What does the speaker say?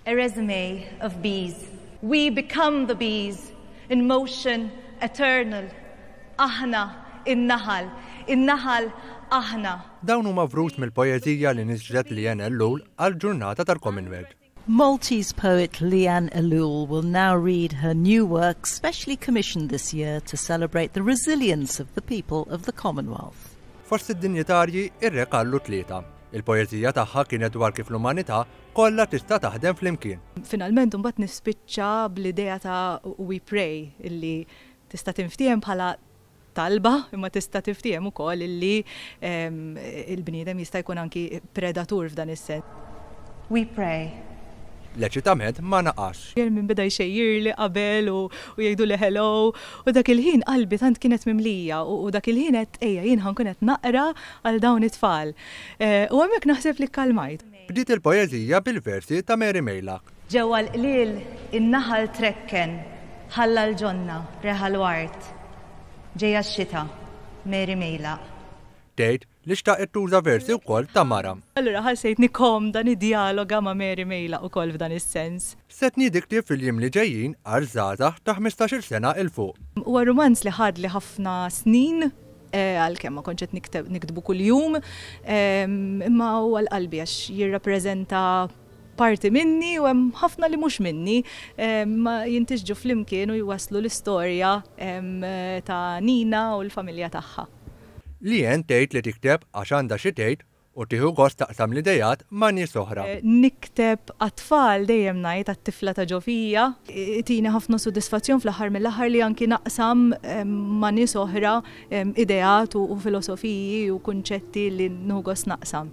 A resume of bees. We become the bees in motion eternal. Aħna, in-naħal, in-naħal, aħna. Dawn huma vrut mill-poeżija li niżlet Leanne Ellul għall-ġurnata tal-Commonwealth. Maltese poet Leanne Ellul will now read her new work specially commissioned this year to celebrate the resilience of the people of the Commonwealth. Fost id-dinjitarji, ir-Re Karlu Tlieta, Il-poeżija tagħha kienet dwar kif l-umanità kollha tista' taħdem flimkien. Finalment imbagħad nispiċċa bl-idea ta' We Pray illi tista' tinftiehem bħala talba imma tista' tinftiehem ukoll illi l-bniedem jista' jkun anki predatur f'dan is-sens. We Pray. L-eċitament ma naqasx. Jien min beda jxejjirli qabel u jgħiduli hello u dak il-ħin qalbi tant kienet mimlija u dak il-ħin għedt ejja jien ħa nkun qed naqra Għal dawn it-tfal. U hemmhekk naħseb li kkalmajt. Bdiet il-poeżija bil-versi ta' Mary Meilak. Ġewwa l-qliel in-naħal trekken, ħalla l-ġonna, reħa l-ward. Ġejja x-xita, Mary Meilak. Tgħid li xtaqet tuża versi wkoll ta' mara. Allura ħassejtni komda niddjaloga ma' Mary Meilak ukoll f'dan is-sens. Stedni tikteb fil-jiem li ġejjin għal żgħażagħ ta' ħmistax-il sena 'l fuq. Huwa rumanz li ħadli ħafna snin. għalkemm ma kontx qed nikteb niktbu kuljum, imma huwa l-qalbi għax jirrappreżenta parti minni u hemm ħafna li mhux minni, imma jintisġu flimkien u jwasslu l-istorja ta' Nina u l-familja tagħha. Leanne tgħid li tikteb għax għandha xi tgħid U tieħu gost taqsam l-ideat ma' nies oħra. Nikteb għat-tfal, dejjem ngħid għat-tifla ta' ġo fija. Itini ħafna sodisfazzjon fl-aħħar mill-aħħar li anki naqsam ma' nies oħra ideat u filosofiji u kunċetti li nieħu gost naqsam.